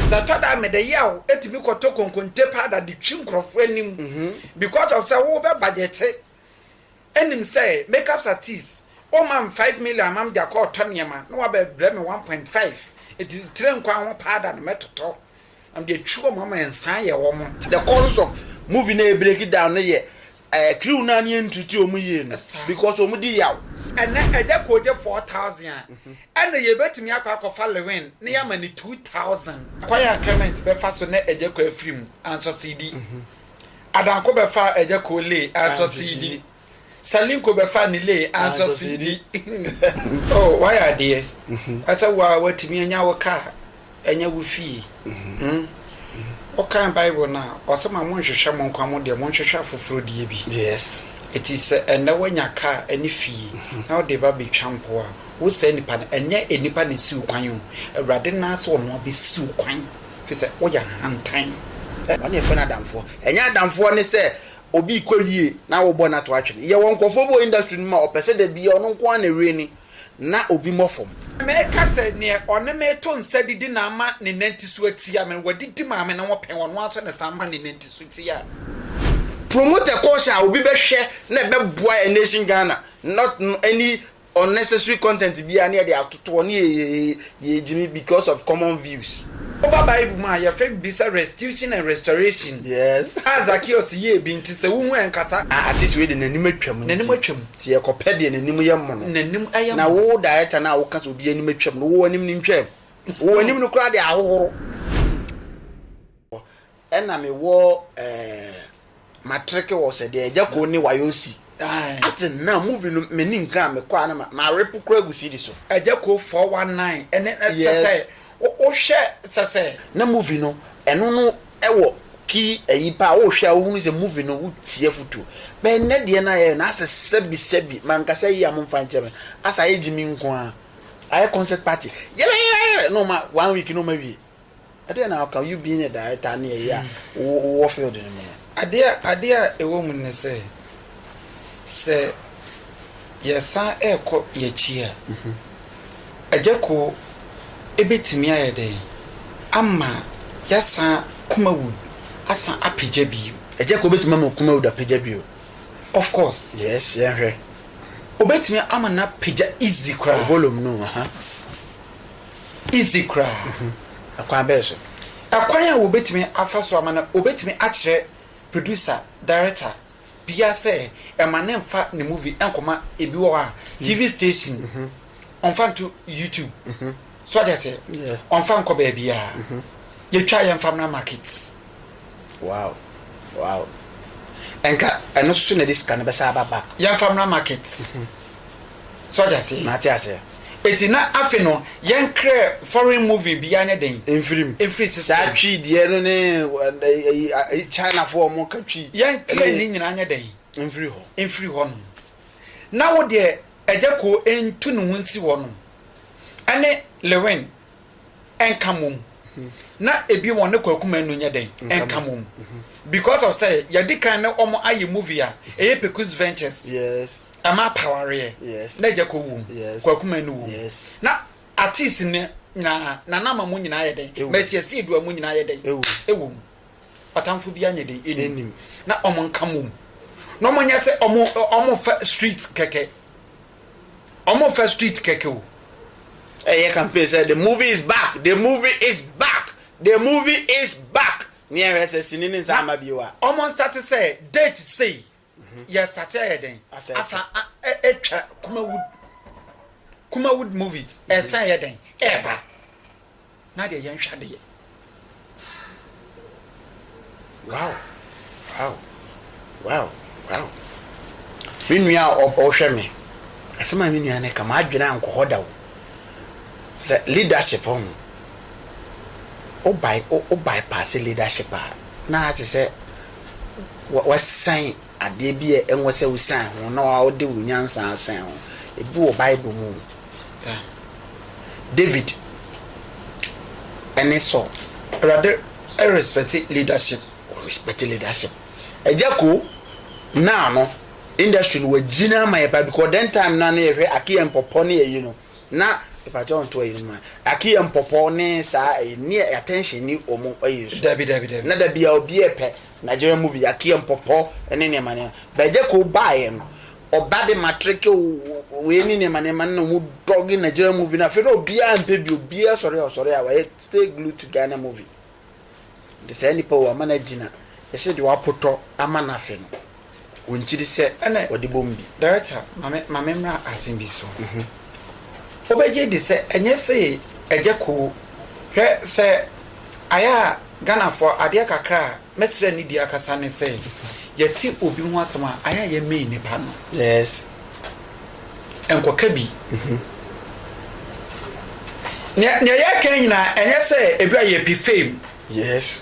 Sɛ ɛtɔ da a mede yaw tumi kɔtɔ konkonte powder de twi nkurɔfo anim because of sɛ wo bɛ budgete ɛnim sɛ makeups artiste wo ma me five million ama me de akɔ ɔtɔ nneɛma na wabɛ brɛ me one point five ɛti tire nkwan ho powder no mɛtotɔ na mede atwi wɔn ama nsan ayɛ wɔn. The causes of movie no a ɛbreki down no yɛ Ɛɛ crew naa ne ɛntreati ɔmo yie no because ɔmo di yaw. Ɛnɛ agya kooje four thousand a ɛna yɛ bɛtumi akɔ akɔ fa lewin ne yɛ ama no two thousand. Kwan a clement bɛ fa so ne agya koo afiri mu ansɔ sidi adanko bɛ faa agya koo lee ansɔ sidi salinko bɛ faa ne lee ansɔ sidi oh wayɛ adeɛ asɛ wo a watumi anya wo car ɛnyɛ wo fie. Hmm. Wokan Bible no a, ɔse ma monhwehwɛ mo nkwa mo deɛ, monhwehwɛ afoforɔ deɛ bi. Yes. Eti sɛ ɛnnɛ woanya kaa ɛne fie na wode reba abɛtwa mpo a, wo saa nipa no, ɛnyɛ nnipa na ɛsi wo kwan o, Awurade no ara sɛ ɔno ara bɛsi wo kwan, firi sɛ woyɛ ahantan. Ɛ, wɔn na yɛfrɛ no adamfoɔ. Ɛnyɛ adamfoɔ ne sɛ obi rekɔ yie na wobɔ no ato atwene. Yɛwɔ nkurɔfoɔ bi wɔ industry no mu a, ɔpɛ sɛ da biara ɔno nko ara na ɛreni, na obi mmɔ fam. Meka sɛ, Neɛ ɔne me to nsa didi na ama ne nanti so atia me no, wadidi maame no ho pɛn, ɔno ara nso na ɛsan ma ne nanti so tia no. Promoter course a obi bɛhwɛ na ɛbɛboa N-Nation Ghana not any unnecessary content biara na yɛde atoto hɔ ne Yɛgyimi because of common views. Woba Bible mu a, yɛfrɛ biribi sɛ restitution and restoration. Yes. A Zacchaeus yɛɛ bi nti, sɛ wohu a ɛnkasa. A artist wei de n'anim atwam nti. N'anim atwam. Nti yɛkɔpɛ deɛ n'anim yɛ mono. N'anim ɛyɛ mono. Na wo director no a woka sɛ obi anim atwam no, wo w'anim no ntwaam. Wo w'anim no koraa de ahohoro. Ɛna me wɔ ɛɛ matreke wɔ sɛ deɛ ɛgya koo ne wayɔ si. Ate na movie no me ni nka a me kɔ a na ma ma repo kura gu sidi so. Ɛgya koo four one nine ɛne sɛ sɛ wo wo hwɛ sɛ sɛ. Na movie no ɛno no ɛwɔ key ɛyi paa wo hwɛ a wo hunu sɛ movie no wo tie afutuo bɛ nnɛ deɛ na yɛ no asɛ sɛbi sɛbi ma nka sɛ yia mo nfa nkyɛ me asɛ ayɛ gyimi nko a ayɛ concert party yɛrɛɛɛɛrɛ na ɔma one week na ɔma wie. Ɛdeɛn na ɔka you being a director ne ɛyɛ a wowɔ field no mu no? Adeɛ adeɛ a ɛwɔ mu ne sɛ, sɛ yɛsan rekɔ yɛakyi a, Agyako bɛtumi ayɛ dɛn ama yɛasan Kumawood asan apagya bio? Agyako bɛtumi ama Kumawood apagya bio? Of course. Yes, yɛnhwɛ. Ɔbɛtumi ama no apagya easy koraa. Volume no, aha. easy koraa. Ɛkwan bɛn so? Ɛkwan a wɔbɛtumi afa so ama no, wɔbɛtumi akyerɛ producer, director biara sɛ ɛma no mfa ne movie nkɔma ebi wɔ hɔ a TV station, ɔmfa nto YouTube. So ate aseɛ? Ɔmfa nkɔ baabiara. Yɛtwa yɛmfa mmra market. Wow wow ɛnka ɛno nso so na ɛde sika no bɛsa aba back. Yɛnfa mmra market. So ɔte aseɛ. Mate aseɛ. Eti na afe no yɛn krɛ foreign movie bi anyɛ den. Mfirim. Mfiri sisi. Saa twi deɛ no ne ɛyi China fo wɔn ka twi. Yɛn krɛ ne nyinaa anyɛ den. Mfiri hɔ. Mfiri hɔ nom. Na wo deɛ ɛgya koo ntu ne ho nsi hɔ nom. Ɛne Lewin. ɛnka mmom na ebi wɔn ne kwaku manu nyɛ dɛn ɛnka mmom because of sɛ yɛde kan ne wɔn ayɛ movie a ɛyɛ pekus ventures ɛma apawareɛ na agya kɔ wom kwaku manu wom na artist ne nyinaa nana ama mu nyinaa yɛ dɛn mɛsiasie dua mu nyinaa yɛ dɛn ɛwɔ mu ɔtamfo bi anyɛ dɛn ɛnim na wɔn nka mmom na wɔn nyɛ sɛ wɔn wɔn fa street kɛkɛ. Ɔmfa street kɛkɛ o. Ɛyɛ campaign sɛ the movie is back, the movie is back, the movie is back. Nea ɛhwɛ sɛ sini ne nsa ama bio a. Ɔmo nstate sɛ date sei yɛ state ayɛ dɛn asan atwa Kumawood Kumawood movies ɛsan yɛ dɛn ɛɛba. na deɛ yɛnhwɛ adeɛ. Wow, wow, wow, wow. Me nua a ɔhwɛ me, asɛm a me nua no ka, m'adwene ankɔ hɔ da o. Sɛ leadership ho, o by o bypass leadership a, na te sɛ wasɛn adeɛ bi a ɛwɔ sɛ wosian ho na wode wo nyansa asian ho. Ebi wɔ Bible mu. David ne Saul. Awurade respɛte leadership. Wɔ respɛte leadership. Agya ko naa no industry no wagyina ama yɛ paa because then time no a na yɛhwɛ Akia Mpɔpɔ ne ayi no. na mpakyɛw nto ayi no mu a, Aki yɛ mpɔpɔw ne saa ɛyi ni a attention ni wɔn ɛyi nso. Dabi dabi dabi. Na dabi a obi ɛpɛ Nigerian movie Aki yɛ mpɔpɔw ne nneɛma nneɛma. But ɛgya koo baa yɛ no, ɔba de matreke o, wei ne nneɛma nneɛma na wɔn dɔge Nigerian movie no afei na obiara mpɛ bio, obiara sɔre a ɔsɔre a wayɛ stay glued to Ghana movie. Ntsi saa nyimpa yi wɔama no agyina, yɛse deɛ ɔapotɔ ama no afe no, ɔnnkyiri sɛ ɔde bom bi. Director, ma me ma me mmra asem bi so. Wo bɛgye adi sɛ ɛnyɛ se ɛgyɛ koo. Hwɛ sɛ ayɛ a Ghanafoɔ adeɛ kakra a mɛsrɛ ne di akasa ne sɛ yɛte obi ho asem a ayɛ a yɛmmee nnipa no. Yes, nkɔka bi ho. Nea nea yɛreka nyinaa ɛnyɛ sɛ ebi a yɛpɛ fame. Yes.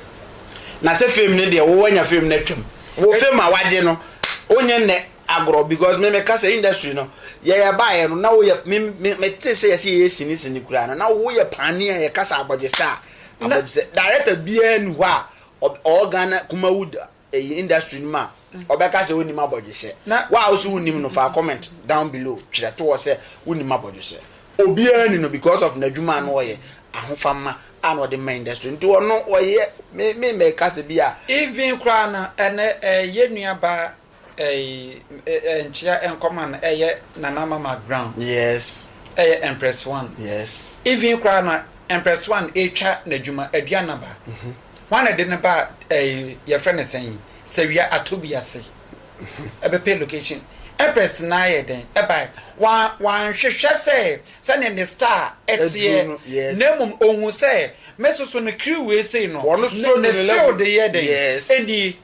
Na sɛ fame ne deɛ wowɔ nya fame no atwam. Wo fame a wagye no wonyɛ nnɛ agorɔ because me meka sɛ industry no yɛyɛ baeɛ no na woyɛ me me mete sɛ yɛsɛ yɛyɛ sini sini koraa no na woyɛ paani a yɛka sɛ abɔgyesɛ a abɔgyesɛ director biara ni hɔ a ɔwɔ Ghana Kumawood ɛyi industry no mu a ɔbɛka sɛ ɔnnim abɔdwesɛ wo a wosɛ wonnim no faa comment down below twerɛ to hɔ sɛ wonnim abɔdwesɛ obiara ni no because of n'adwuma a na ɔyɛ ahofamma a na ɔde ma industry nti ɔno ɔyɛ me me mɛka sɛ bi a Even koraa no ɛnɛ ɛɛ yɛn nua baa ɛɛ ɛɛ nkyea nkɔma no ɛyɛ Nana Mama Brown yes ɛyɛ Empress One yes even koraa no Empress One ɛretwa n'adwuma Aduanaba Hwan na ɛde no ba ɛɛ yɛfrɛ no sɛn yi sawia ato bi ase ɛbɛpɛ location ɛpɛs na ayɛ dɛn ɛbae wan wanhwehwɛ sɛ sɛnea ne star ɛteɛ Aduru no, yes. na mmom ohun sɛ me soso no kiri wei sei no Wɔn so ne, ne ne level. field yɛ dɛn Yes. ɛnie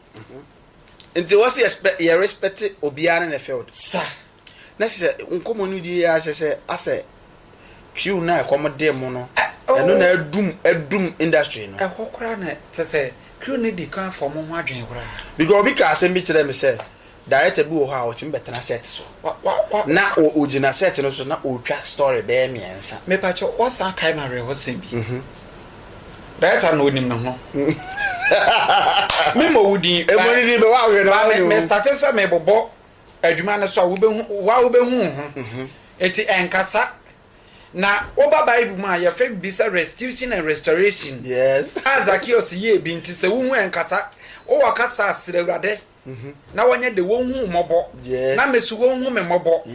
Nti wɔsi yɛspɛ yɛ respect obiara ne ne field. sa. na kyerɛ sɛ nkɔmmɔ no di ara kyerɛ sɛ asɛ kriw no a ɛkɔm dee mo no, ɛno na adum adum industry no. Ɛhɔ koraa na kyerɛ sɛ kriw no di kan fɔm ho adwene koraa. Because obi kaa asɛm bi kyerɛɛ me sɛ director bi wɔ hɔ a ɔtumi bɛtena set so na ogyina set no so na ɔretwa story bɛyɛ mmiɛnsa. Mepakyɛw woasan akae me awerɛhosɛm bi. Director no onim ne ho. Memmɔ wo din. Emu ne din bɛ wɔ ahwɛ na wɔn. Ba me me starte sɛ mebobɔ. adwuma no so a, wubehu wo ara wubehu wo ho. Enti ɛnkasa. Na woba Bible mu a, yɛfrɛ biribi sɛ restitution and restoration a Zakeus yɛɛ bi nti, sɛ wuhu ɛnkasa. Wowɔ kasa a, srɛ Awurade na wɔnyɛ dɛn? Wonhu wo mmɔbɔ, na mesu wonhu me mmɔbɔ.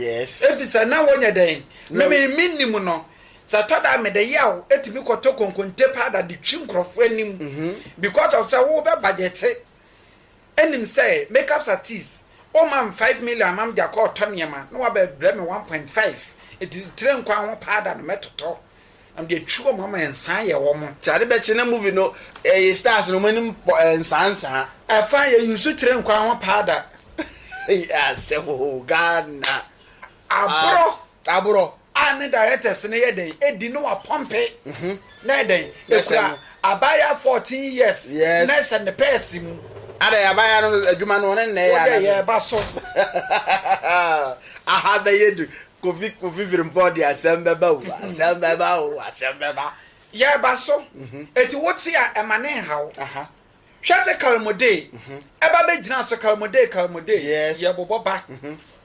Efisɛ na wɔnyɛ dɛn? Me me minnim no. Sɛ ɛtɔ da a, mede yaw tumi kɔtɔ konkonte powder de twi nkurɔfo anim because of sɛ wobɛbajɛte. nim sɛ makeups artist o ma me five million ama mede akɔ ɔtɔ nneɛma na waba brɛ me one point five eti tire nkwa ho powder no mɛtotɔ na mede atwi wɔn ama nsa ayɛ wɔn. Nti ade bɛkye na movie no ɛyɛ stars no wɔn anim bɔ nsaa nsaa. Ɛfa yɛ use tire nkwa ho powder. Asɛm oo Ghana. Aborɔ. Aborɔ. a ne directors no yɛ dɛn edi no wa pɔmpe na yɛ dɛn ekura abaayaa fourteen years na ɛhyɛ ne pɛɛse mu. Ada yɛ abaayaa no adwuma no ɔne nnɛ yɛ anadwo. Wode yɛ ɛba so. Aha bɛyɛ du kofi kofi firimpɔ de asɛm bɛba o asɛm bɛba o asɛm bɛba. Yɛ ɛba so eti wote a ɛma ne nhaw hwɛ se kalmodee ɛba bɛ gyina so kalmodee kalmodee yɛ bobɔ ba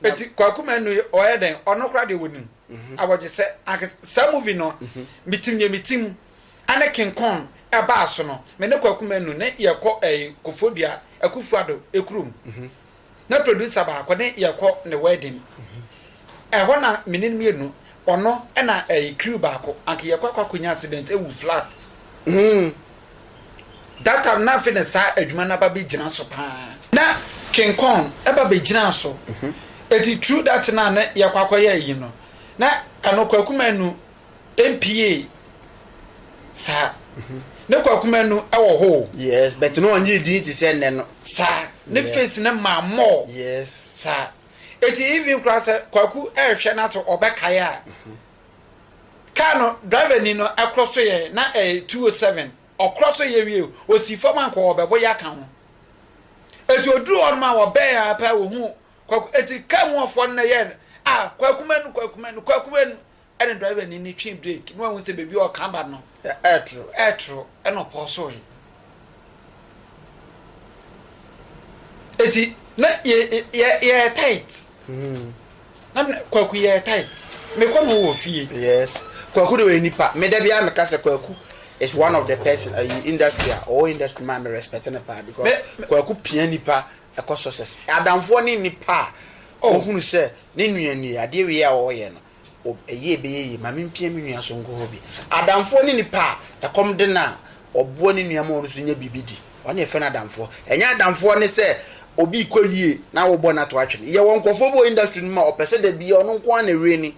na eti kwaku mɛnu yi ɔyɛ dɛn ɔno kora deɛ wɔnim mhm. awɔgye sɛ anke saa movie no mhm. metim yɛ metim ɛne king kong ɛbaa so no me ne kwaku mɛnu ne yɛkɔ ɛyi eh, kofodua akufuado ekurom mhm. na producer baako ne yɛkɔ ne wedding ɛhɔ na me ne mmienu ɔno ɛna ɛyi eh, crew baako anke yɛkɔ akɔ akɔnya accident ewu flat. Mm. Data no na afei na saa adwuma no aba bɛgyina so paa. Na King Kong ba bɛgyinaa so. Enti True Data no a na yɛkɔ akɔyɛ ayi no, na ɛno Kwaku Manu mpiee saa. Ne Kwaku Manu wɔ hɔ o. Yes, but na ɔnyɛ edin te sɛ nnɛ no. Saa, ne face no maa more. Yes. Saa. Enti even koraa sɛ Kwaku rehwɛ no ase ɔbɛkae a, Car no driver ni no ɛkorɔ so yɛ na ɛyɛ two o seven ɔkorɔ so yɛ wie ɔsii fam ankɔ wɔ bɛbɔ ya ka ho ɛti ɔduru hɔ no ma wɔ bɛɛ a pɛ wɔ hu kwaku ɛti car mu ɔfoɔ no na yɛ a kwaku manu kwaku manu kwaku manu ɛne driver ni no twi break na wahu sɛ baabi ɔka ba no Ɛɛtoro, ɛɛtoro, ɛna ɔpɔw soe. Eti na yɛ yɛ yɛyɛ tight. Mm. Na me kwaku yɛyɛ tight. Mekɔ no wɔ fie. Yes. Kwaku de ɔyɛ nipa. Me da bi a meka sɛ kwaku is one of the person ayi uh, industry a ɔwɔ industry maa me respect ne paa because me, me, kwaku pia nipa ɛkɔ success. Adamfoɔ ne nipa a ɔhunu oh. sɛ ne nua nie adeɛ wie a ɔyɛ no. wɔ ɛyɛ ɛbɛyɛ yie, ma mempia me nua so nkɔ hɔ bi. Adamfoɔ ne nipa a ɛkɔm de no a ɔboa ne nua ma ɔno nso nya biribi di. Wɔn na yɛfrɛ no adamfoɔ. Ɛnyɛ adamfoɔ ne sɛ obi rekɔ yie na wobɔ no ato atwene. Yɛwɔ nkurɔfoɔ bi wɔ industry no mu a ɔpɛ sɛ da biara ɔno nko ara na ɛwini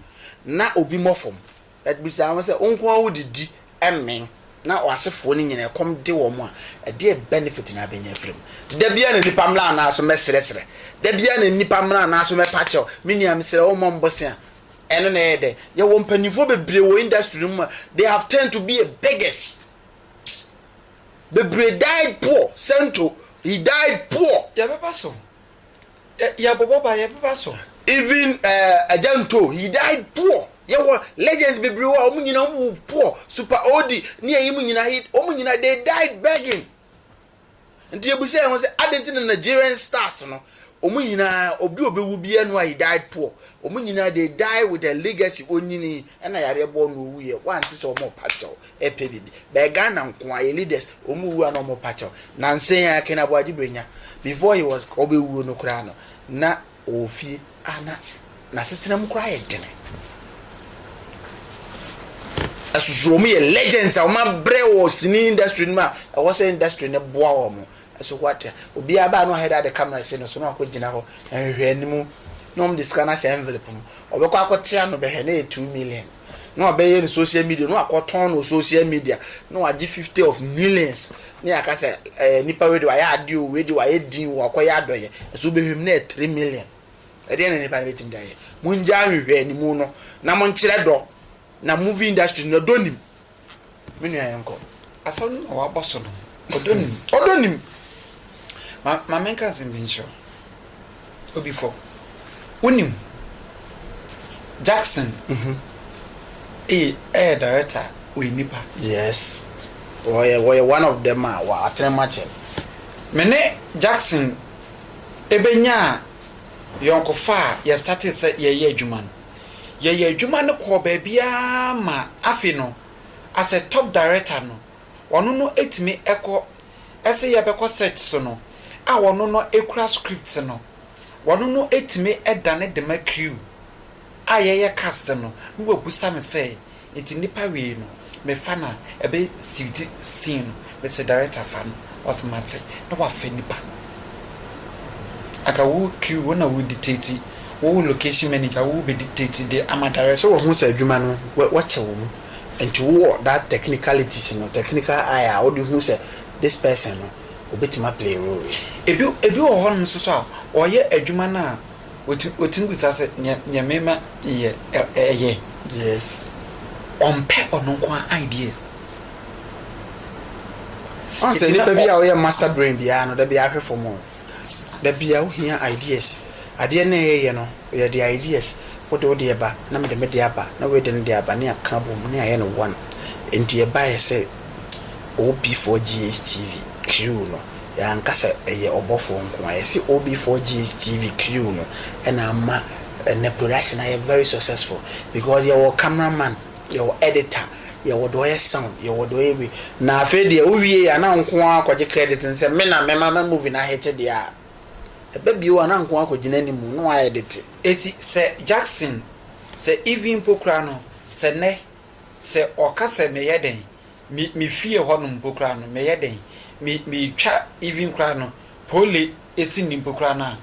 na obi mmɔ fam. But bisa wɔn sɛ, wo nko ara wodidi mmee na w'asefoɔ no nyinaa ɛkɔm de wɔn a, ɛdeɛ benefit na abɛnya afiri mu? Nti da biara na nipa mmra anaa so mɛsrɛsrɛ? Da biara na nipa mmra anaa so mɛpa kyɛw? Me nua mesrɛ wo mmɔ mbosea. Ɛno na ɛyɛ dɛ. Yɛwɔ mpanimfoɔ bebree wɔ industry no mu a, they have turned to be a beggars. Bebree died poor, Sento, he died poor. Yɛbɛba so. Yɛ bɔbɔ ba yɛ bɛba so. Even eh, Agya Nto, he died poor. Yɛwɔ legends bebree hɔ a wɔn nyinaa wɔn wu poor. Super Odi ne ɛyi mu nyinaa, he, wɔn nyinaa they died begging. Nti yɛbisa yɛn ho sɛ, adɛn nti na Nigerian stars no, wɔn nyinaa, obi a ɔbɛwu biara no a he died poor. Wɔn nyinaa they die with a legacy, ɔnyini, ɛna yareɛ bɔɔ no ɔwuiɛ, woante sɛ wɔn repa kyɛw. ɛpɛ bibi bɛɛ Ghana nkoa yɛ leaders wɔn wu a na wɔn pa kyɛw nansa yi ara Ken Aboagye Brenya before he was ɔbɛwuo no koraa no na ɔwɔ fie a na n'asetena mu koraa yɛ dene ɛsoso wɔn yɛ legends a wɔn abrɛ wɔ sini industry no mu a ɛwɔ sɛ industry no boa wɔn ɛso hɔ ate obiara baa no ahɛda de camera si no so na wakɔ gyina hɔ nhwehwɛ anim na wɔn de sika no ahyɛ envelope mu ɔbɛkɔ akɔtea no bɛhwɛ na yɛ two million. na wabɛyɛ no social media na wakɔtɔn no social media na wagye fifty of millions na yɛaka sɛ ɛɛ nipa wei de wayɛ ade o wei de wayɛ din o wakɔyɛ adɔyɛ ɛso wobɛhwɛ mu na yɛ three million ɛdeɛ na nipa no bɛtumi de ayɛ mongya ahwehwɛ animu no na monkyerɛ dɔ na movie industry no dɔ nim Me nua yɛnkɔ. Asɛm no na waba so no. Ɔdɔ nim. Ɔdɔ nim. Ma ma menka asɛm bi nkyerɛ wo. Obi fɔ. Wonim Jackson mhm ɛyɛ ɛyɛ director a ɔyɛ nipa. Yes. Wɔyɛ wɔyɛ one of them a wɔatene makyɛ. Me ne Jackson ɛbɛnyaa yɔnkofa a yɛstartee sɛ yɛyɛ adwuma no. Yɛyɛɛ adwuma no kɔɔ baabiara ma afe no, as a top director no, ɔno no tumi kɔ. Ɛse yɛbɛkɔ set so no, a ɔno no kura scripts no, ɔno no tumi dane dema crew a yɛyɛ cast no, na wabusa me sɛ, Ntsi nipa wiei no mefa no a ɛbɛ siw dzi scene no mese director fa no ɔse matse na wafɛ nipa no anka wo crew wo na wo dictate wo location manager wo bɛ dictate de ama director. Sɛ wɔhu sɛ adwuma no wɔkyɛ wɔ mu nti wo wɔ that technicalities no technical eye a wode hu sɛ this person no obetumi a play role yi. Ebi wɔ hɔnom nso so a wɔyɛ adwuma no a. Wotumi bisa sɛ, Nea me ma yɛ ɛyɛ? Yes. Ɔmpɛ ɔno nko ara ideas. Ɔn sɛ nipa bi a ɔyɛ master brain biara no, da bi ahwɛ fam o. Da bi a ohia ideas. Adeɛ na ɛyɛ no, yɛ de ideas. Wode wo deɛ ba, na mede me deɛ aba, na wei de ne deɛ aba, ne aka abom, ne ayɛ no one. Nti ɛbaeɛ sɛ OB4GHTV crew no, yɛanka sɛ ɛyɛ ɔbɔfoɔ nkoaa. Yɛse OB4GHTV crew no na ama ɛnɛ production ayɛ very successful because yɛwɔ camera man, yɛwɔ editor, yɛwɔ deɛ ɔyɛ sound, yɛwɔ deɛ ɔyɛ wei. Na afei deɛ wowiei a na nkoaa kɔgye credit no sɛ me na mema ma movie no ahete deɛ a, ɛba bio a na nkoaa kɔgyina anim na w'aɛdete. Eti sɛ Jackson, sɛ Ivy mpo koraa no, sɛ nnɛ. Sɛ ɔka sɛ meyɛ dɛn, me me fie hɔ nom mpo koraa no meyɛ dɛn, me metwa even koraa no pole esi nni mpo koraa no a,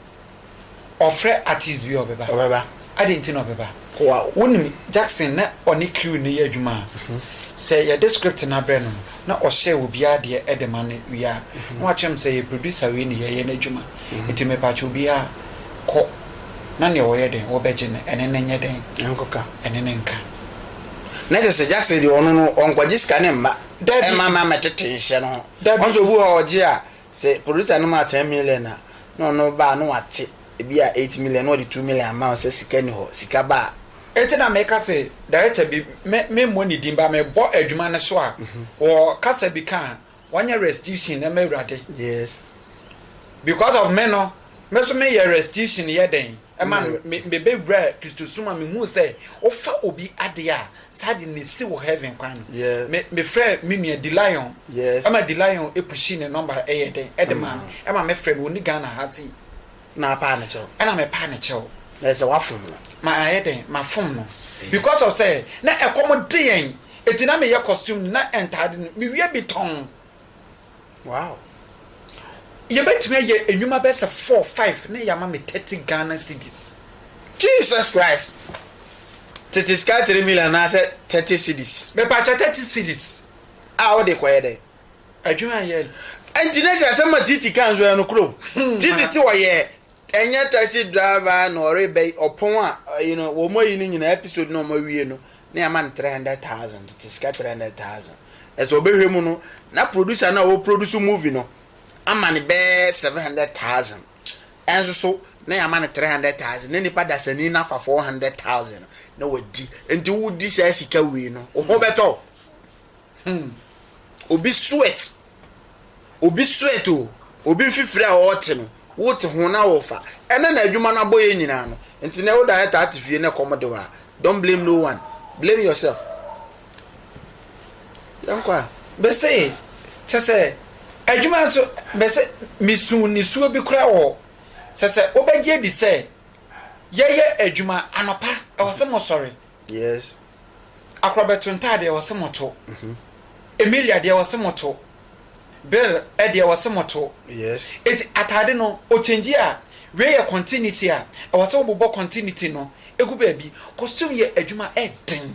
ɔfrɛ artist bi a ɔbɛba. Ɔbɛba. Adɛn nti na ɔbɛba? Wow. Wonim Jackson na ɔne crew no yɛ adwuma a, sɛ yɛde script no abrɛ no no, na ɔhyɛ obiara deɛ de ma no wie a, na wakyerɛ me sɛ yɛ producer wei na yɛyɛ no adwuma. Nti mepakyɛ obiara kɔ na nea ɔyɛ dɛn wɔbɛgye no ɛne no nyɛ dɛn? Ɛnkɔka. Ɛne no nka. na kyɛ sɛ Jackson deɛ ɔno no ɔnkɔgye sika ne mma ɛma ma mɛtete nhyɛ no ho ɔnso obi hɔ ɔgye a sɛ producer no ma 10 million a na ɔno ba no wate ebi a 8 million na ɔde 2 million ama wo sɛ sika ni hɔ sika ba a. Enti na meka se director bi me mmɔ ne din ba mebɔ adwuma no so a wɔ kasa bi ka a wɔnyɛ restitution ɛma awurade. Yes. Because of me no, me so meyɛ restitution yɛ dɛn ɛma no mebɛwura Kristosom a mehuu sɛ wofa obi adeɛ a saa de ne si wɔ heaven kwan no. Mefrɛ me nua Dilion ɛma Dilion ɛpushi ne nɔmba ɛyɛ dɛn ɛde maa me ɛma mefrɛ no ɔni Ghana ha sei. Na apaa ne kyɛw. Ɛna me paa ne kyɛw. Na ɛsɛ wafom no. Ma ayɛ dɛn? Ma fom no. Because of sɛ na ɛkɔm de yɛn eti na me yɛ costume no na ntaade no me wia bi tɔn. Wow. Yɛ bɛ tumi ayɛ nnwuma bɛ sɛ four five na yama me thirty Ghana cedis. Jesus Christ! Tete sika three million anaasɛ thirty cedis? Me pakyɛ thirty cedis a wode kɔ yɛ dɛn? Adwuma a yɛyɛ no. Ɛnti na hyɛ asɛm a Titi kaa nso ɛyɛ nokorɛ o. Titi se ɔyɛ ɛnyɛ taxi driver na ɔrebɛ ɔpɔn a you know wɔn ayi no nyinaa episode na wɔn awie no na yɛama no three hundred thousand tete sika three hundred thousand ɛsɛ ɔbɛhwɛ mu no na producer no a ɔproduce movie no ama no bɛɛ seven hundred thousand ɛnso so na yɛama no three hundred thousand na nipa dasani no afa four hundred thousand na wadi nti wodi saa sika wei no wo ho bɛtɔ Hmm obi sweat obi sweat o obi mfifiri a ɔrete no wote ho na ɔrefa ɛna na adwuma no abɔ yɛ nyinaa no nti na ɛwoda yɛ taa te fie na ɛkɔm de hɔ a don't blame no one blame yourself yɛn kɔ a. bɛsɛ sɛ sɛ adwuma nso bɛsɛ mesu nisuo bi koraa wɔ sɛ sɛ wobɛgye adi sɛ yɛyɛ adwuma anɔpa ɛwɔ sɛ mosɔre Yes. Akorɔbɛto ntaadeɛ ɔse mo to. Mhm. Emilia deɛ ɔse mo to. Bill ɛdeɛ ɔse mo to. Yes. Eti ataade no ɔkyɛngyi a wei yɛ continuity a ɛwɔ sɛ wobobɔ continuity no egu baabi. Costume yɛ adwuma ɛden.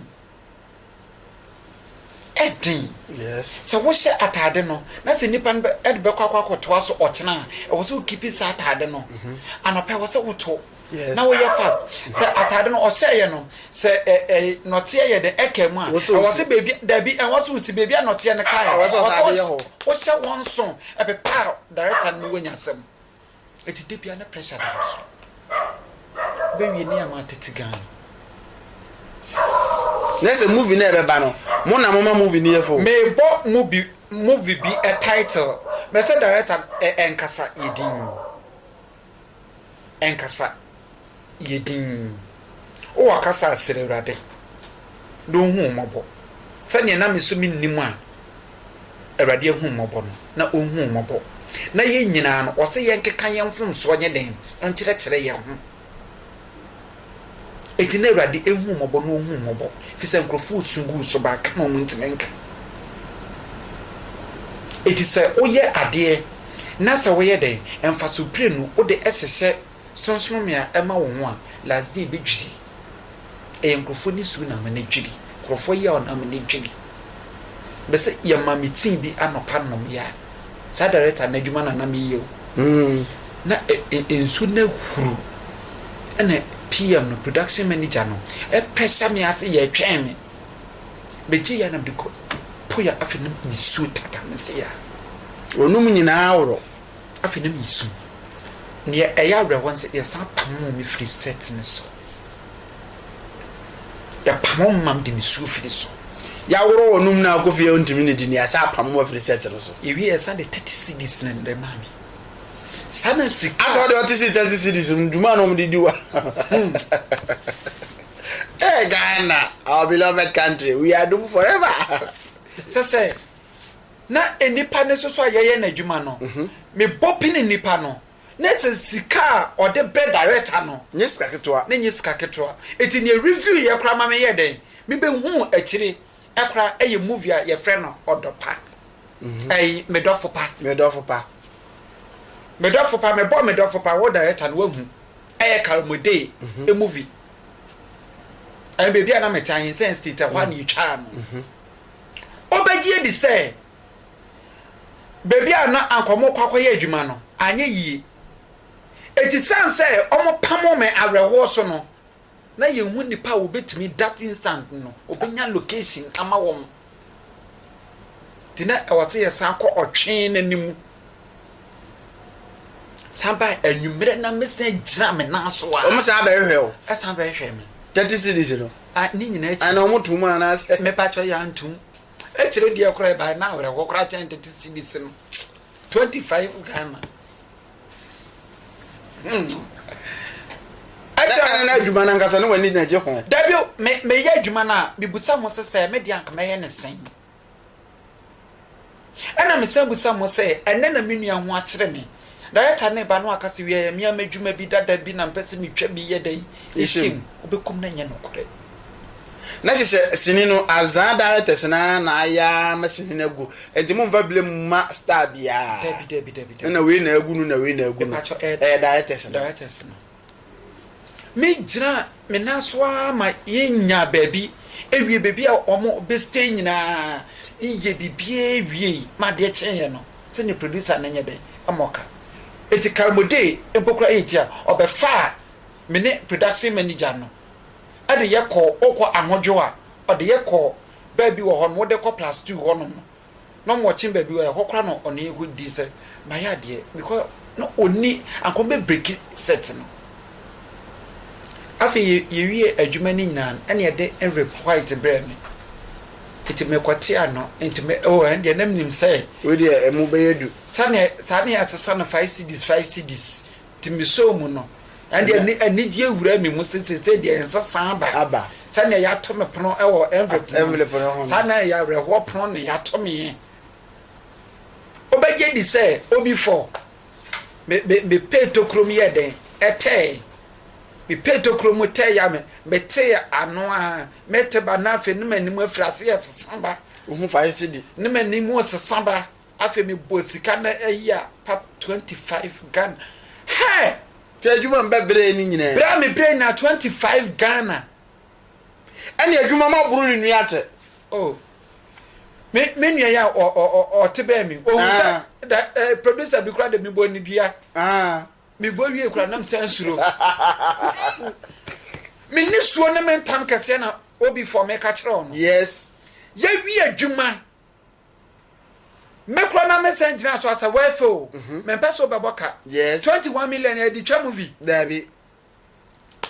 Ɛden. Yes. Sɛ wohyɛ ataade no na sɛ nipa no bɛ ɛde bɛkɔ akɔ akɔtoa so ɔkyena a ɛwɔ sɛ wo keep saa ataade no. Mhm. Anɔpa ɛwɔ sɛ woto. Yes. na woyɛ fast sɛ ataade no ɔhyɛ yɛ no sɛ ɛ ɛ nɔteɛ yɛ dɛ ɛka mu a Wosɛ ɛwɔ osi. sɛ beebi dabi ɛwɔ sɛ osi beebi a nɔteɛ no kaa yɛ Ɛwɔ sɛ ɛwɔ sɛ ataade yɛ hɔ. wohyɛ wɔn nso ɛpepa a director no ne woanya asɛm eti de bia na pressure da wo so bewie ne ama atete Ghana na sɛ movie no a ɛbɛba no mo na moma movie no yɛ fo mebɔ mu bi movie bi ɛ title mɛsɛ director no ɛ ɛnkasa yɛ din nkasa, yɛ dinn. O ɔkasa a srɛ Awurade na ɔnhu wo mmɔbɔ, sɛdeɛ na me so mennim a Awurade ahu mmɔbɔ no, na ɔnhu wo mmɔbɔ. Na yɛn nyinaa no, ɔse yɛnkeka yɛn mfomsoɔ nyɛ dɛn? Nkyerɛkyerɛ yɛn ho. Enti na Awurade ahu mmɔbɔ na ɔhu mmɔbɔ, ɛfiri sɛ nkurɔfoɔ resu gu wo so, but aka na wɔntumi nka. Enti sɛ woyɛ adeɛ na sɛ woyɛ dɛn, mfasoɔ pire no wode hyehyɛ Sonsonome a ɛma wo ho a, last day bɛdwiri. Ɛyɛ nkurɔfoɔ nisuo na ama no adwiri. Nkurɔfoɔ yea na ama no adwiri. Mese yɛma me tea bi anɔpa nom yɛ a, saa director no adwuma na na meyɛ o. Na nsu no ahuru ɛna PM no, production manager no, ɛpɛsɛ me ase yɛ ɛtwɛn me. Megye yɛ a na mede kɔ po yɛ afei na mesuo tata me se yɛ a. Ɔnom nyinaa worɔ. Afei na mesu. Neɛ ɛyɛ awerɛhoɔ ne sɛ yɛsan pamoo me firi set no so. Yɛpam wɔn ma wɔde nisuo firi so. Yɛaworɔ wɔn mu na akɔ fie a wɔntumi nnidi na yɛasan apam wɔn afiri sɛt no so. Yɛwie yɛsan de thirty cedis na ɛde maa me. Saa na sika. Asɛ ɔde ɔte si thirty cedis mu dwuma na wɔde di wa. Hmm. Hey, Ghana, our beloved country, we are doomed forever. Sɛ sɛ na nnipa no nso so a yɛyɛ n'adwuma no, mhm. mebɔ pini nnipa no. Ne sɛ sika a ɔde bɛ director no. Nyɛ sika ketewa. Ne nyɛ sika ketewa. Eti nea review yɛ koraa ma me yɛɛ dɛn me bɛ huu akyire koraa ɛyɛ movie a yɛ frɛ no ɔdɔ pa ɛyi me dɔfo pa. Me dɔfo pa. Me dɔfo pa me bɔ me dɔfo pa wo director no wahu ɛyɛ kalmodee mm-hmm. movie ɛn baabi a na me tan sɛn state ɛhɔ a na yɛ twaa no. Mm-hmm. Ɔbɛgye adi sɛ baabi a na anka wɔrekɔ akɔyɛ adwuma no, anyɛ yie. Enti sane sɛ wɔpamoo me awerɛhoɔ so no, na yɛnhu nnipa a wɔbɛtumi that instant no, wɔbɛnya location ama wɔn. Nti na ɛwɔ sɛ yɛsan kɔ ɔtwe no anim. San baa anwummerɛ na mesan gyina me nan so a. Wɔn san bɛhwehwɛ wo. Ɛsan bɛhwehwɛ me. Thirty cities no. A ne nyinaa akyi. Ana wɔn tum anaasɛ. Mepatwa yɛ antum. Akyire deɛ koraa ɛbaeɛ na awerɛhoɔ koraa kyɛn tete cedis no twenty five Ghana ɛkyerɛ ne na adwuma no ankasa ne w'ani na gye ho dabi o me meyɛ adwuma no a mebusa mo sɛ sɛ me deɛ anka mɛyɛ ne sɛn ɛna mesan busa mo sɛ ɛnɛ na me nua ho akyerɛ me Director ne ba no aka se wiaɛ mea madwuma bi dada bi na mpɛ se metwa bi yɛ dɛn ɛhyɛ mu wobɛkum no ɛnyɛ nokorɛ. Na kyesɛ sini no azaa directors no ara na ayɛ ara ma sini no agu nti momfa blame mma star biara Dabi dabi dabi dabi. na wei na agu no na wei na agu no Mepakyɛ ɛyɛ ɛyɛ directors no. directors no. Me gyinaa me nan so ara ma yɛn nyaa baabi wie baabi a wɔn bɛ stay nyinaa yɛ biribiara wie yi ma adeɛ kyee yɛn no sɛ nea producer no nyɛ dɛn ɛma ɔka eti karimode mpo kura yɛ ti a ɔbɛ faa me ne production manager no ɛde yɛ kɔɔ ɔkɔ ahodwo a ɔde yɛ kɔɔ baabi wɔ hɔ no wɔde kɔ plus two hɔ nom no. na ɔma ɔkye baabi wɔ ɛhɔ koraa na ɔne yɛ kɔ di sɛ mayɛ adeɛ because na ɔni anka ɔbɛ break set no afei yɛ wie adwuma no nyinaa ɛna yɛde envelope white brɛ me nti mekɔ te ano nti me ɛwɔ ɛn deɛ na menim sɛ wei deɛ ɛmu bɛyɛ du sani saa ne yɛ asesa no five cds five cds. Nti mesɔɔ mu no, ɛnde Ɛnɛ- anigyeɛ wuraa me mu sɛ seesei deɛ nsa san aba. Aba. Sɛnea yɛato me pono wɔ envelope no Envelope no ho no. saa na ɛyɛ awerɛhoɔ pono na yɛato me. Wobɛgye di sɛ obi fɔ. Me, me, mepee tokuro mu yɛɛ dɛn? Ɛtɛɛe. Mepee tokuro mu tɛɛe a me, metee ano a mete ba na afei ne m'anim afiri ase ɛsesa ba. Wohu fa yɛ sɛ di. Ne m'anim sesa ba. Afei me bɔ sika na ɛyi a pap twenty five Ghana hɛɛ. Sɛ adwuma mbɛ brɛ ne nyinaa. Brɛ a me brɛ nyinaa twenty five Ghana. Ɛne adwuma ma boro ne nua kyɛ. Oh me me nua yɛ a ɔ ɔ ɔte bɛɛ me ohun sɛ da eh, producer bi kura de me bɔ ne dua. Me bɔ wie kura nam sɛ nsuro. Me nisuo ne me ntam kɛseɛ na obi fɔ me ka kyerɛ ɔno. Yes. Yɛ wie adwuma me kora na me sɛn gyina so asɛ wɛfɛ o mhm. me mpɛ so bɛbɔ ka yes twenty one million ɛdi twa mu bi daabi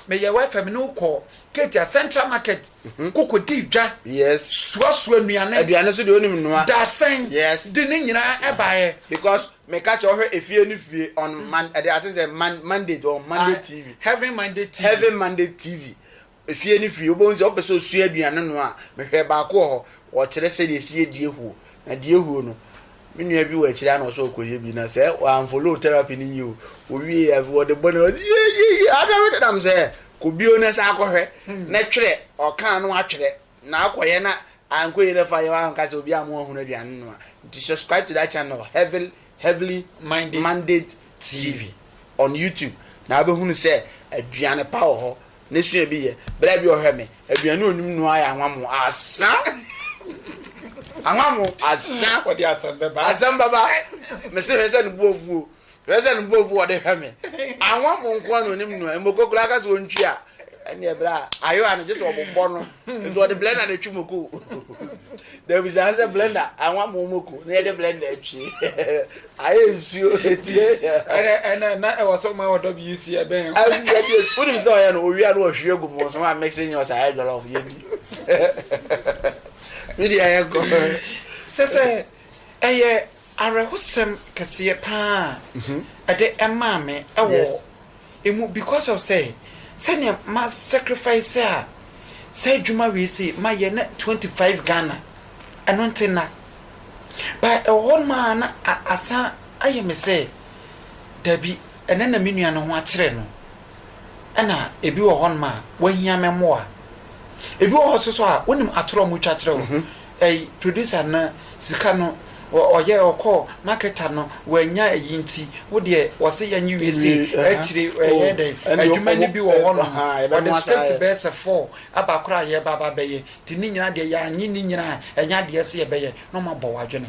me yɛ wɛfɛ me ne kɔ ketia central market mhm. koko di dwa yes suasua nnuane aduane so de onim nua dasɛn yes de ne nyinaa ɛbaayɛ because me ka kyerɛ ɔhwɛ efie ne fie on man ɛde ati sɛ man monday on monday ah, tv heaven monday tv heaven monday tv Efie ne fie, wobɛhu sɛ wopɛ sɛ ɔsua aduane noa a, mehwɛɛ baako wɔ hɔ, ɔkyerɛ sɛdeɛ ɛsi yɛ diahuo. Na diahuo no, me nua bi wɔ akyire ha na ɔsɛ ɔkɔyɛ bi, na sɛ wamfolo therapy no yie o, ɔwie a, afei ɔde bɔ ne ho ase, yieieiei, adɛn wode nam sɛ, kɔ bio na san kɔhwɛ, na twerɛ, ɔka a na watwerɛ, na akɔyɛ na ankɔ yie na fa yɛ, wanka sɛ obiara mmoa hunu aduane noa. Nti subscribe to that channel, Heavily, Heavily Minded Minded TV on YouTube, na wobɛhunu sɛ aduane pa wɔ hɔ, Ne sua bi yɛ bere bi ɔhwɛ me aduane onim no ayɛ anwamo asa anwamo asa ɔde asɛm bɛba asɛm bɛba me se hwɛ sɛ ne bo afuo hwɛ sɛ ne bo afuo ɔde hwɛ me anwamo nko ano onim no mmoko koraa ka sɛ ɔntwi a ɛne ɛbrɛ a ayewa no gye sɛ ɔbobɔ no nti ɔde blender na atwi moko dabi saa sɛ blender anwamo moko na yɛde blender atwi Ayɛ nsuo ɛtie yɛ. Ɛnɛ ɛnɛ na ɛwɔ so ma ɔdɔ bi yi si ɛbɛn. Wonim sɛ ɔyɛ no owie a na wahwie agu mo so ma mixing nyɛ ɔsɛ ayɛ jollof yɛdi. Me deɛ yɛ nkɔ. Kyɛ sɛ ɛyɛ awerɛhosɛm kɛseɛ paa a ɛde ɛmaa me ɛwɔ. Emu because of sɛ sɛnea ma sacrifice a saa adwuma wei se ma yɛ na twenty five Ghana ɛno nti na but ɛwɔ hɔ nom a na asan ayɛ me sɛ dabi ɛnɛ na me nua no ho akyerɛ no ɛna ebi wɔ hɔ nom a wahia me mmoa ebi wɔ hɔ nso so a wonim atorɔ a wɔtwa kyerɛ wo. Ɛy producer no sika no wɔ ɔyɛ ɔkɔɔ marketer no wannya ɛyi nti wo deɛ wɔse yɛnye wie se akyire ɛyɛ dɛn adwuma no bi wɔ hɔ nom wɔde script bɛyɛ sɛ four aba koraa yɛba aba bɛyɛ nti ne nyinaa deɛ yɛanye ne nyinaa ɛnyɛ adeɛ se yɛbɛyɛ na ɔmo abɔ wo adwene.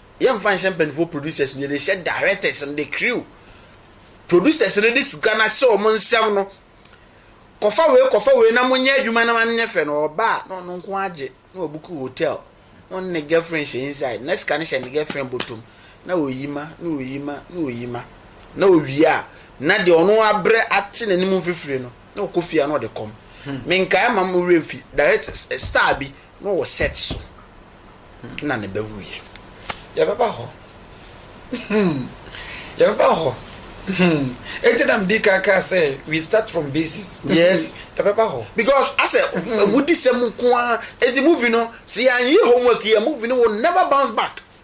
yɛ nfa nhyɛ mpanyinfoɔ producers no yɛde hyɛ directors no de crew producers no de sika no ahyɛ wɔn nsɛm no kɔfa wei kɔfa wei na mo nyɛ adwuma na wɔn nyɛ fɛ no ɔba a na ɔno nko agye na ɔbuku hotel na ɔne ne girlfriend hyɛ inside na sika no hyɛ ne girlfriend bɔtɔm na ɔyi ma na ɔyi ma na ɔyi ma na ɔwie a na deɛ ɔno abrɛ ate n'anim mfifiri no na ɔkɔ fie a na ɔde kɔm hmm. menkae ma mo werɛ mfi direct eh, star bi Na ɔwɔ set so na ne ba wuiɛ. Yɛbɛba hɔ hmm yɛbɛba hɔ hmm eti na medi kan kaa sɛ we start from basis. Yes yɛbɛba hɔ. Because asɛ wudi sɛm nko ara eti movie no sɛ yɛanyɛ homework yi a movie no will never bounce back.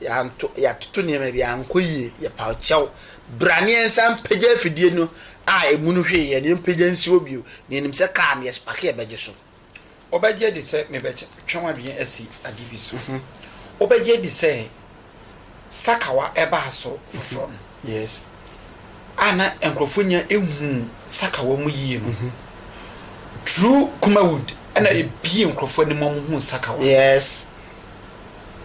Yɛanto, yɛatoto nneɛma bi, ankɔ yie, yɛpaw kyɛw. Bra na yɛnsan mpagya afidie no a emu no hwee yɛ no, yɛmpagya nsi hɔ bio, na yɛnim sɛ kaa no, yɛspake a ɛbɛgye so. Wobɛgye adi sɛ mebɛtwe w'adwene asi ade bi so? Wobɛgye adi sɛ sakawa baa so foforɔ no a na nkurɔfoɔ nya nhuu sakawa mu yie no, Drew Kumawud na ɛbie nkurɔfoɔ anim ma wɔhuu sakawa?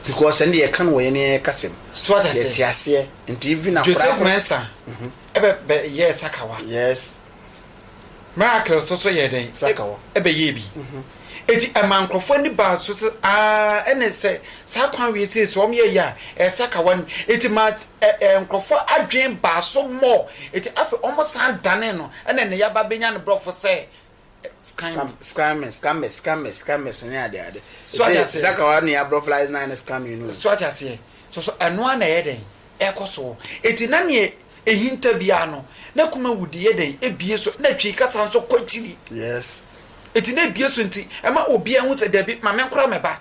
because ɛnde yɛka no wɔ yɛn yɛn kasa mu so ate aseɛ yɛte aseɛ nti even akora Joseph Mensah mm -hmm. ɛbɛ bɛ yɛ sakawa yes miracle so so yɛ dɛn sakawa ɛbɛ yɛ bi mm -hmm. eti ɛma nkorɔfoɔ ani ba so sɛ aa ɛna sɛ saa kwan wie sɛ so wɔn yɛ yɛ a ɛyɛ sakawa ni eti ma ɛ ɛ nkorɔfoɔ adwene ba so mɔ eti afɛ wɔn san dane no ɛna ne yaba benya ne borɔfo sɛ Scam, scammers, scammers, scammers, scammers ne ade ade. So ate aseɛ. Saka wa ne abrɔ fly na ne scam you know. So ate aseɛ. So so ɛno ara na ɛyɛ dɛn ɛkɔ so. Eti na neɛ ehinta biara no na kuma wudi yɛ dɛn ebie so na twi kasa nso kɔ akyiri. Yes. Eti na ebie so nti ɛma obi ahu sɛ dabi maame nkora me ba.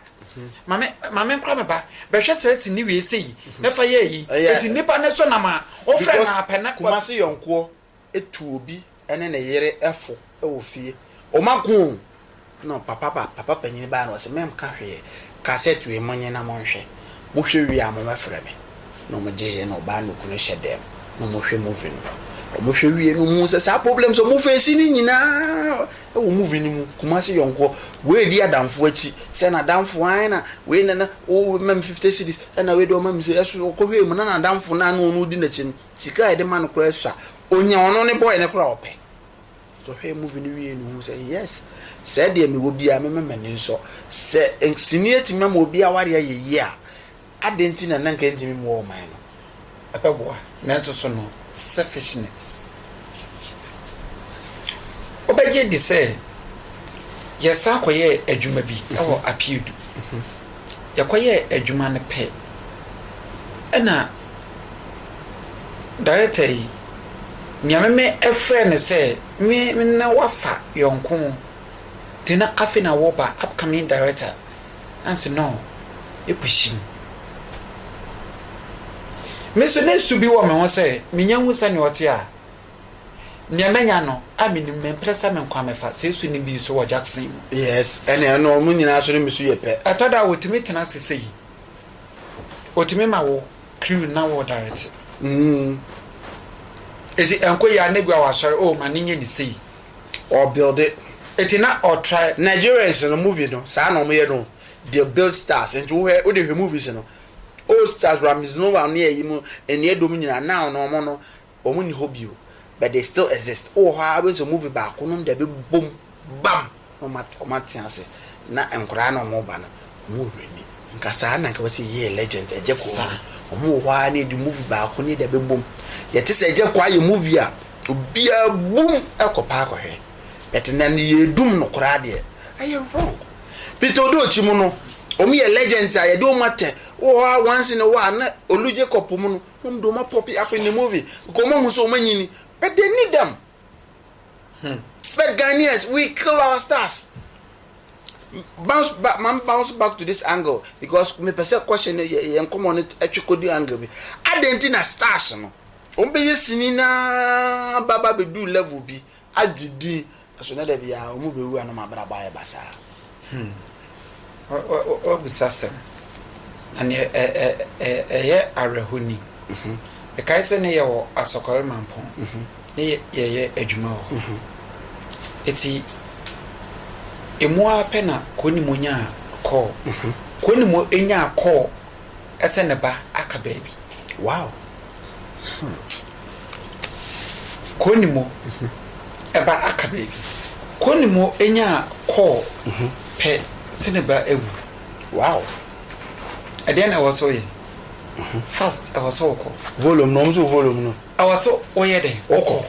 Maame maame nkora me ba bɛhwɛ sɛ esi ne wie sei na fa yɛ yi. Eti nipa ne so nam a wɔfrɛ na apɛ na. Kumasi yɔnkoɔ tu obi ne ne yere fo wɔ fie. Ɔma ko o! Ɛna papa ba, papa panyin ba na ɔse, Menka hwee. Kasɛt wei monye na monhwɛ. Mohwɛ wie a momɛfrɛ me. Na wɔgyeeɛ na ɔbaa ne okunu hyɛ dɛm na wɔhwɛ movie no. Wɔhwɛ wie no wɔhuu sɛ saa problems a wɔfeesi no nyinaa wɔ movie no mu. Kumasi yɔnkoɔ, wei redi adamfo akyi sɛ n'adamfo ae na wei na na woma me fifty cedis ɛna wei deɛ ɔma me sei. Ɛso ɔkɔhwɛɛ mu na n'adamfo no a na ɔno redi n'akyi no Sika a yɛde ma no koraa sua. Onya ɔno ne boy no koraa ɔpɛ. Nti ɔhwɛɛ movie no wiei no ohuu sɛ yes sɛɛ deɛ mewɔ biaa mɛma m'ani nsɔ. Sɛ sini atumi ama obi aware ayɛ yie a adɛn nti na na nka ɛntumi mmoa ɔman no. Ɛpɛ boa nanso so no selfishness. Wobɛgye adi sɛ yɛsan kɔyɛɛ adwuma bi wɔ Apiudu. Yɛkɔyɛɛ adwuma no pɛ na. Director yi, nea me me ɛfrɛ no sɛ me me ne wo afa yɔnko nti na afei na wɔreba upcoming director na me se no ɛpushing me nso na su bi wɔ me ho sɛ menya hu sɛ nea ɔte a nea manya no a menim no mprɛ sɛ me nkwa mefa sɛ su no bi nso wɔ Jackson mu yes ɛne ɛno ɔmo nyinaa so no me su yɛ pɛ ɛtɔ da wɔtumi tena ase sɛ yi Otumi ma wo crew na wo direct mm eti ɛnkɔ yie a na ebia wasɔre oh ma ne nyɛ ne sei ɔ build eti na ɔ try. Nigerians no movie no saa na ɔmo yɛ no they build stars nti wohwɛ wode hwɛ movies no old stars Ramiz Nouh ne ɛyi mo nniɛ dɔm nyinaa now no ɔmo no Wɔn nni hɔ bio but they still exist. Wowɔ hɔ ara wobɛhu sɛ movie baako nom deɛ bɛbom bam na wɔn ate ase na nkwadaa na wɔn ba no wɔn wɔ werɛ ni. Nka saa na nka wobɛsɛ yɛyɛ legend Agya Kwaa. Wɔn wɔ hɔ ara na ɛdi movie baako ne deɛ bɛbom. Yɛte sɛ Agya Kwaa yɛ movie a obiara bom kɔ paa kɔhwɛ but nnɛ no yɛredum no koraa deɛ ɛyɛ wrong. Peter Odoo akyi mu no wɔn yɛ legends a yɛde wɔn atɛ. Wowɔ hɔ ara once in a while na Olu Jacob mu no Hom do ma poppy up in the movie because wɔahu sɛ wɔn anyin but they need them hmm but Ghanaians we kill our stars bounce back man bounce back to this angle because me pɛ sɛ question no yɛ yɛn nkɔmɔ no ɛtwe kɔ di angle bi adan ti na stars no wɔn bɛyɛ sini na baba bɛ do level bi agye din na so na da biara wɔn mu bewu a na wɔn abrabɔ ayɛ basaa? Hmm. Wabisa asɛm. Na nea ɛyɛ awerɛho ni. Mhm. Ɛkae sɛ ne yɛwɔ Asɔkɔre Mampɔn mhm. ne yɛyɛ adwuma wɔ hɔ. Mhm. Eti emu ara pɛ na Kuonimu nyaa kɔɔ. Kuonimu nyaa kɔɔ sɛ ne ba aka baabi. Wow! Hmm. Konimo ba aka baabi. Konimo nyaa kɔɔ mhm. pɛ sɛ ne ba awu. Wow! Ɛdeɛ na ɛwɔ so yɛ. Mhm. Fast ɛwɔ so wokɔ. Volume no, ɔmo so volume no. Ɛwɔ so woyɛ dɛn? Wokɔ.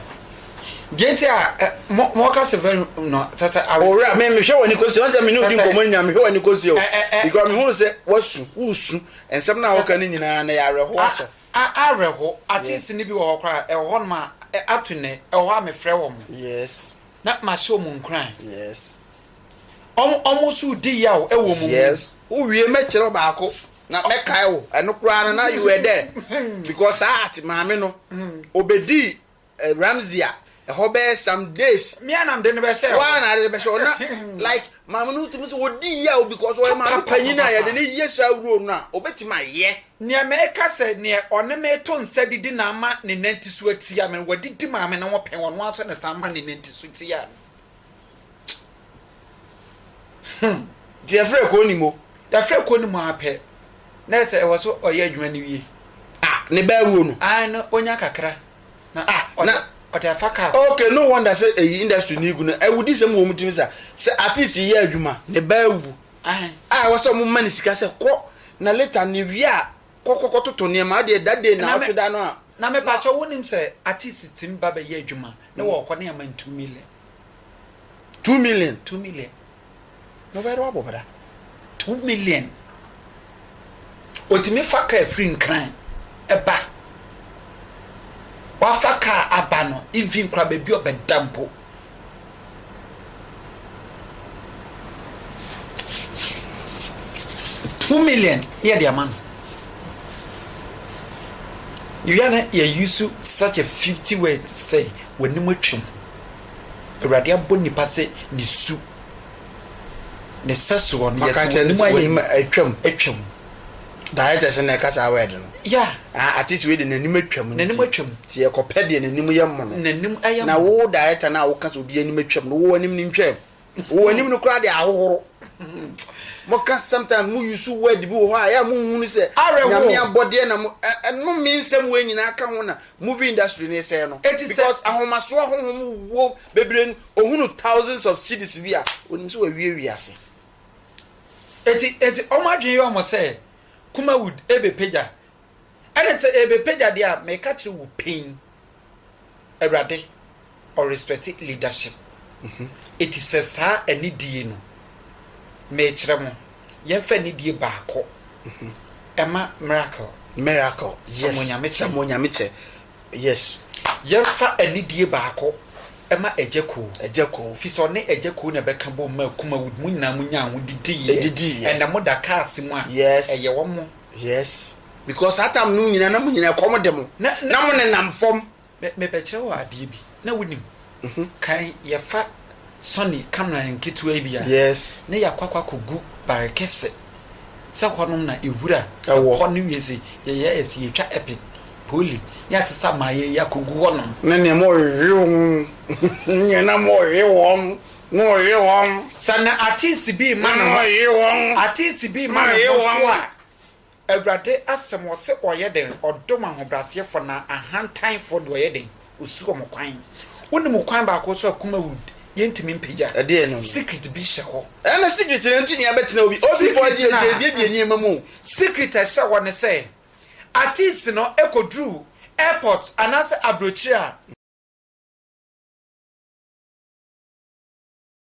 Deɛ nti a ɛ mo mo ɔka sɛ fɛn no sɛ sɛ awɛsɛ. Owura me me hwɛ wɔ ni kosi ɔnsɛ me ni odi nkɔmɔ ni nyina me hwɛ wɔ ni kosi o. Because me hu sɛ wasu wusu nsɛm na ɔka ni nyina na yɛ awɛrɛho asɔ. A awɛrɛho atis ni bi wɔ hɔ kora ɛwɔ hɔ nom a up to nɛ ɛwɔ hɔ a me frɛ wɔn. Yes. Na ma hyɛ wɔn nkuran. Yes. Wɔn wɔn nso di yaw ɛwɔ wɔn mu. Yes. Wo wie mɛ kyerɛ baako na mɛ kae wo ɛno kora na na you were there because saa ati maame no obedi. Ramsey a ɛhɔ bɛyɛ some days. Me a na mede no bɛhyɛ hɔ. Wo a na ade no bɛhyɛ hɔ na like maame no tumi sɛ ɔdi yaw because ɔyɛ maame panyin a yɛde no yɛ saa role no a ɔbɛtumi ayɛ. Nea meka sɛ nea ɔne me to nsa didi na ama ne nanti so atia me no wadidi maame no ho pɛn ɔno ara nso na ɛsan ma ne nanti so tia no. hmm deɛ frɛ kɔɔ nim o yɛafrɛ kɔɔ nim ara pɛ na ɛsɛ ɛwɔ so ɔyɛ adwuma no wie ah ne ba awuo no ah no ɔnya kakra na ah na ɔde afa kaa ok no wonder sɛ ɛyi industry no gu no awudi sɛ mu wɔ mu timi sa sɛ artist yɛ adwuma ne ba awu ah ɛwɔ sɛ ɔmo ma ne sika sɛ kɔ na later ne wie a kɔkɔkɔ toto nneɛma adeɛ da day na ɔtwe da no a Na me pakyɛw wo nim sɛ artist timi ba bɛ yɛ adwuma ne wɔ ɔkɔ ne aman two million. Two million. Two million. No bɛ rɔbo bra. Two million. Otimi fa car firi nkran ɛba. Wafa car aba no even kora bɛ bi ɔbɛ da mpo. two million yɛ de ama no yɛwia no yɛyi so such a fifty word sɛ w'anim atwam awurade abɔ nipa sɛ ne su ne sɛ soɔ no yɛsɛ w'anim ayɛ atwam atwam Director sɛ na ɛka saa word no. Yeah. Ah, artist wei de n'anim atwam nti. N'anim atwam. Nti yɛkɔpɛ deɛ n'anim yɛ mmono. N'anim ayɛ mmono. Na wo director no a woka sɛ obi anim atwam no, wo anim no ntwaam. Wo anim no koraa de ahohoro. Moka sometimes mo use word bi wɔ hɔ a ɛyɛ a monhunu sɛ Nyame abɔdeɛ na mo ɛnome nsɛm wei nyinaa ka ho na movie industry no resɛe no. Because ahomasoɔ honhom wɔ bebree no, ɔhunu thousands of cedis bi a ɔnim sɛ wawie wiase. Eti eti wɔn adwene yɛ wɔn sɛ Kumawood ɛbɛpagya. Ɛna sɛ ɛbɛpagya deɛ a, meka kyerɛ wo pen, Awurade ɔrespɛte leadership. Eti sɛ saa anidie no, mekyerɛ mo, yɛmfa anidie baako ɛma Miracle. Miracle, yes, Samuel Nyame kyɛ. Samuel Nyame kyɛ. Yes yɛnfa anidie baako ma agya koo. Agya koo. Firi sɛ ɔne agya koo na ɛbɛka bom maa kumawood mo nyinaa mo nyaa ho didiiɛ. Ɛdidiiɛ. Ɛnna mo da cars mu a. Yes. Ɛyɛ wɔn. Yes because saa time no nyinaa na mo nyinaa ɛkɔm de mo. Na mo nenam fam. Me me bɛkyerɛ wo adeɛ bi. na wonim kan yɛfa sɔne camera nketewa bi a na yɛakɔ akɔ akɔgu bare kɛse sɛ hɔnom na ewura ɛhɔ ne wie sɛ yɛyɛ ɛsɛ yɛtwa epic poli ne asesa ma yɛyɛ akɔgu hɔnom ne nea ma ɔhwehwe wɔn nea na ma ɔhwe wɔn na ɔhwe wɔn sɛ na artist bi ma na ɔhwe wɔn artist bi ma na ɔhwe wɔn a Awurade asɛm wɔ se ɔyɛ den ɔdom ahobraseɛfoɔ na ahantanfoɔ deɛ ɔyɛ den ɔsi wɔn kwan. Wonim okwan baako so a kum awu yɛntumi mpagya? Ɛdeɛn no no? Secret bi hyɛ hɔ. Ɛna secret no ntumi abɛtena obi obi fɔ deɛ deɛ deɛ deɛ nneɛma mu. Secret a ɛhyɛ hɔ ne sɛ artist no kɔduru airport anaasɛ aburokyire a.